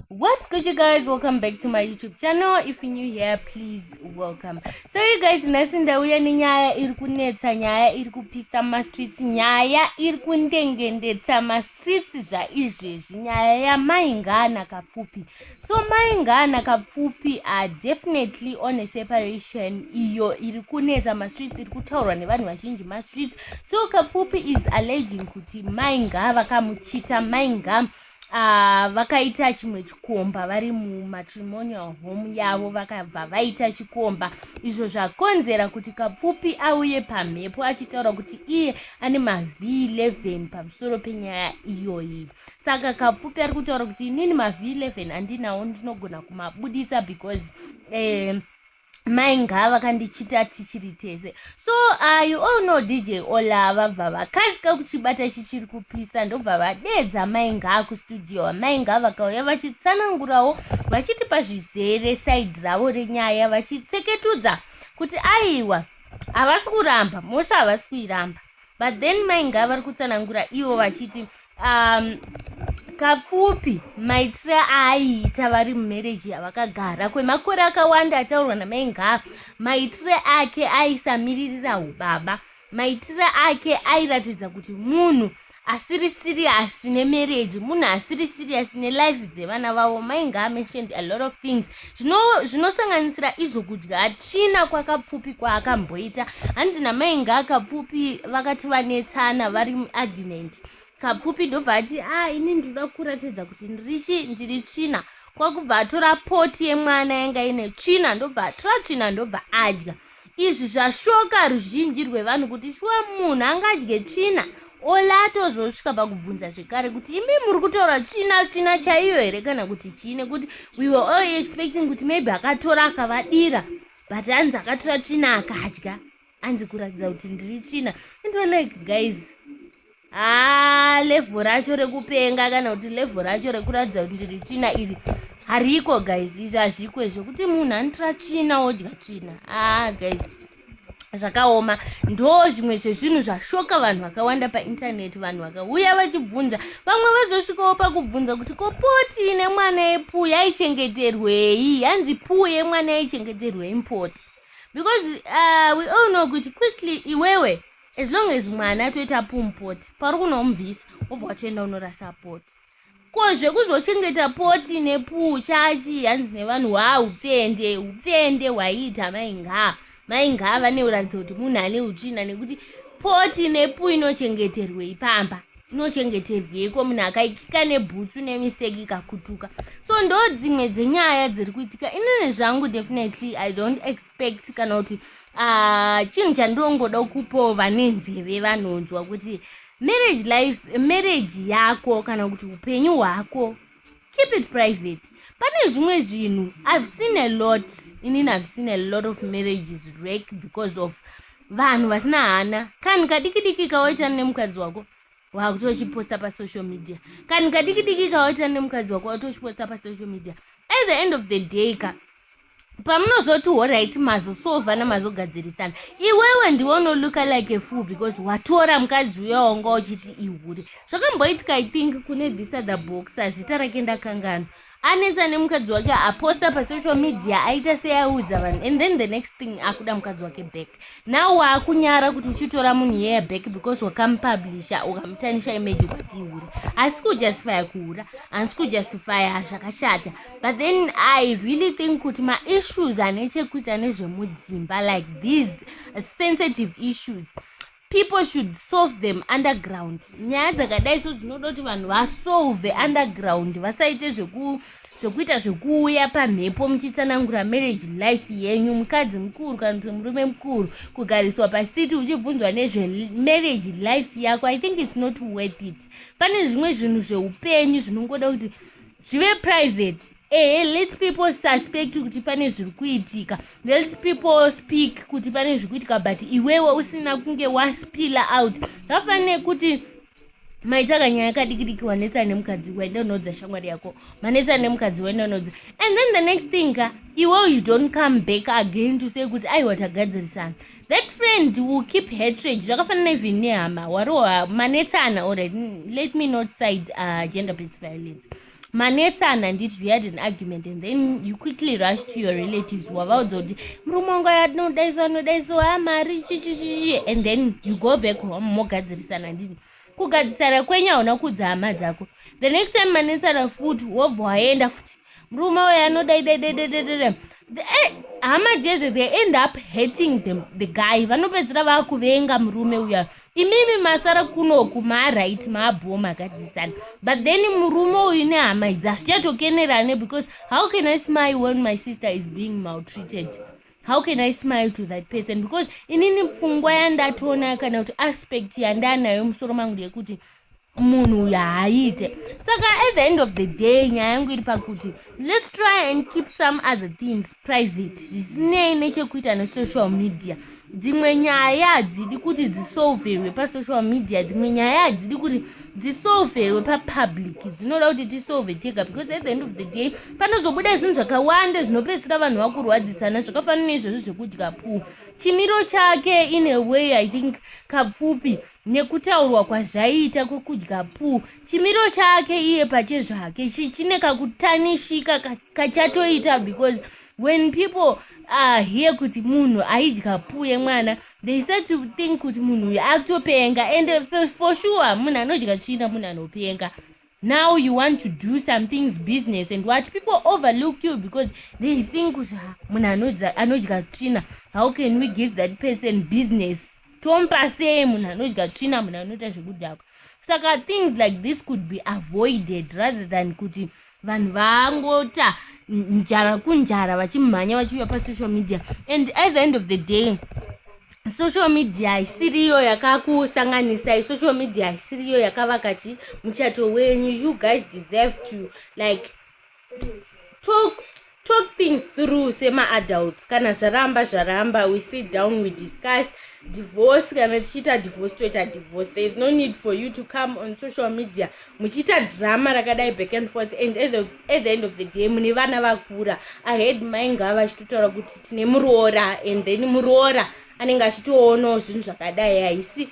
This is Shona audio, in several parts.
what's good you guys welcome back to my youtube channel if you're new here please welcome so you guys nhasi ndauya nenyaya iri kunetsa nyaya iri kupisa mastreets nyaya iri kundengendetsa mastreets zvaizvezvi nyaya yamaingana kapfupi so maingana kapfupi are definitely on a separation iyo iri kunetsa mastreets iri kutaurwa nevanhu vazhinji mastreets so kapfupi is alleging kuti mainga vakamuchita mainga Ah, vakaita uh, chimwe chikomba vari mumatrimonial home yavo vakabva vaita chikomba izvo zvakonzera kuti kapfupi auye pamhepo achitaura kuti iye ane mavhii 11 pamusoro penyaya iyoyi saka kapfupi ari kutaura kuti inini mavhii 11 andinawo ndinogona kumabuditsa because eh, mai ngava kandichita tichiri tese so uh, you all know dj ola vabva vakasika kuchibata chichiri kupisa ndobva vadedza mai ngaa kustudio mai ngaa vakauya vachitsanangurawo vachitipa zvizere saidi ravo renyaya vachitseketudza kuti aiwa havasi kuramba mosha havasi kuiramba but then mai ngava vari kutsanangura ivo vachiti um, kapfupi maitire aaiita vari mumereji yavakagara kwemakore akawanda ataurwa namai ngava maitire ake aisamiririra ubaba maitire ake airatidza kuti munhu asiri siriyasi nemereji munhu asiri siriyasi nelife dzevana vavo mai ngava mentioned a lot of things zvinosanganisira zvino izvo kudya hatina kwakapfupi kwaakamboita hanzi namai ngaakapfupi vakati vanetsana vari muargument kapfupi ndobva ati a ah, ini ndinoda kuratidza kuti ndirichi ndiri tsvina kwakubva atora poti yemwana yanga ine tsvina ndobva atora tsvina ndobva adya Izvi zvashoka ruzhinji rwevanhu kuti shuwa munhu angadye tsvina olata ozosvika pakubvunza zvekare kuti imi muri kutaura tsvina tsvina chaiyo here kana kuti chii nekuti we were all expecting kuti maybe akatora akavadira but hanzi akatora tsvina akadya anzi kuratidza kuti ndiri tsvina and we're like guys haa level racho rekupenga kana kuti level racho rekuratidza kuti ndiri tsvina iri hariko guys izvi hazviko izvo kuti munhu anotora tsvina wodya tsvina haa guys zvakaoma ndo zvimwe zvezvinhu zvashoka vanhu vakawanda paintaneti vanhu vakauya vachibvunza vamwe vazosvikawo pakubvunza kuti ko poti ine mwana yepuu yaichengeterwei hanzi puu yemwana yaichengeterwei mpoti because uh, we all know kuti quickly iwewe as long as mwana toita pumpoti pauri kunomubvisa wobva watoenda unorasa poti ko zvekuzochengeta poti nepuu chachi hanzi nevanhu waa upfende upfende hwaiita maingaa maingaa vane uratidzo kuti munhu ane utsvina nekuti poti nepuu inochengeterwei pamba inochengeterweiko munhu akaikika nebhutsu nemistake ikakutuka so ndo dzimwe dzenyaya dziri kuitika inini zvangu definitely i don't expect respect kana kuti ah, chinhu chandongoda kupawo vane nzeve vanonzwa kuti marriage life marriage yako kana kuti upenyu hwako keep it private pane zvimwe zvinhu i've seen a lot inini i've seen a lot of marriages rake because of vanhu vasina hana kanhu kadikidiki kawaitana nemukadzi wako wakuti wachiposta pasocial media kanhu kadiki diki kawaitira nemukadzi wako wati wachiposta pasocial media at the end of the day ka pamunozoti horaiti mazosovana mazogadzirisana iwewe ndiwe unoluka like a fool because watora mukadzi uya wanga uchiti ihure zvakamboitika i think kune this other boxer zita rake ndakanganwa anetsa nemukadzi wake aposta pasocial media aita seaudza vanhu and then the next thing akuda mukadzi wake back now waakunyara kuti uchitora munhu yeye back because wakamupublisha ukamutanisha image ukati ihura asi kujustifya kuhura asi kujustifya zvakashata but then i really think kuti maissues ane chekuita nezvemudzimba like these sensitive issues people should solve them underground nyaya dzakadai so dzinoda kuti vanhu vasolve underground vasaite zvekuita zvekuuya pamhepo muchitsanangura marriage life yenyu mukadzi mukuru kana kuti murume mukuru kugariswa pasiti uchibvunzwa nezvemarriage life yako i think its not worth it pane zvimwe zvinhu zveupenyu zvinongoda kuti zvive private ehe let people suspect kuti pane zviri kuitika let people speak kuti pane zviri kuitika but iwewe usina kunge waspila out zvafanire kuti maitaka nyaya yakadikidiki wanetsana nemukadzi waenda unodza shamwari yako manetsana nemukadzi waenda unodza and then the next thing ka iwe you don't come back again to say kuti aiwa tagadzirisana that friend will keep hatred zvakafanana even nehama wari manetsana orit let me not side uh, gender based violence manetsana handiti you had an argument and then you quickly rush to your relatives wavaudza kuti murume wangu ayadinodaisa anodaisa ha mari chichichichi and then you go back home mogadzirisana handiti kugadzisana kwenyu hauna kuudza hama dzako the next time manetsana futi wobva waenda futi murume uyo anodaidaidaidaidaidaida eh, hama dzezve they end up hating the, the guy vanopedzisira vaakuvenga murume uya imimi masara kunoku maaright maabhoo magadzisana but then murume uyu nehama idzi hasichatokenerane because how can i smile when my sister is being maltreated how can i smile to that person because inini pfungwa yandatoona kana kuti aspect yandaanayo musoro mangu ndeyekuti munhu uyu haaite saka at the end of the day nyaya yangu iri pakuti let's try and keep some other things private zvisinei nechekuita nesocial media dzimwe nyaya hadzidi kuti dzisolverwe pasocial media dzimwe nyaya hadzidi kuti dzisolverwe papublic dzinoda kuti tisolve tega because at the end of the day panozobuda zvinhu zvakawanda zvinopedzisira vanhu vakurwadzisana zvakafanana izvozvo zvekudya puu chimiro chake in a way i think kapfupi nekutaurwa kwazvaiita kwekudya puu chimiro chake iye pache zvake chichine kakutanishika kachatoita because when people are here kuti munhu aidya puu yemwana they start to think kuti munhu uyu akutopenga and for sure munhu anodya tsvina munhu anopenga now you want to do some things business and what people overlook you because they think kuti ha munhu anodza- anodya tsvina how can we give that person business tomupa sei munhu anodya tsvina munhu anoita zvekudhakwa saka things like this could be avoided rather than kuti vanhu vangota njara kunjara vachimhanya vachiuya pasocial media and at the end of the day social media haisiriyo yakakusanganisai social media haisiriyo yakavaka chi muchato wenyu you guys deserve to like talk talk things through semaadults kana zvaramba zvaramba we sit down we discuss divorce kana tichiita divorce toita divorce there is no need for you to come on social media muchiita drama rakadai back and forth and at the, at the end of the day mune vana vakura ahead mainga vachitotaura kuti tine muroora and then muroora anenge achitoonawo zvinhu zvakadai haisi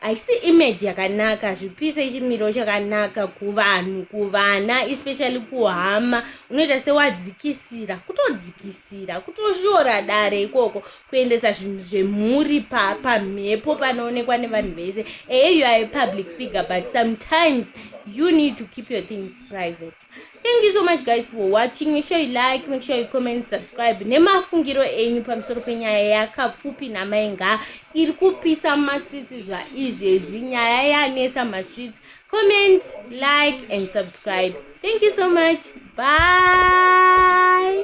haisi image yakanaka zvipise chimiro chakanaka kuvanhu kuvana especially kuhama unoita sewadzikisira kutodzikisira kutoshora dare ikoko kuendesa zvinhu zvemhuri pamhepo pa panoonekwa nevanhu vese eye you are a public figure but sometimes you need to keep your things private thank you so much guys for watching make sure you like make sure you comment subscribe nemafungiro enyu pamusoro penyaya yakapfupi namai nga iri kupisa mumastreets zvaizvezvi nyaya yanesa mumastreets comment like and subscribe thank you so much bye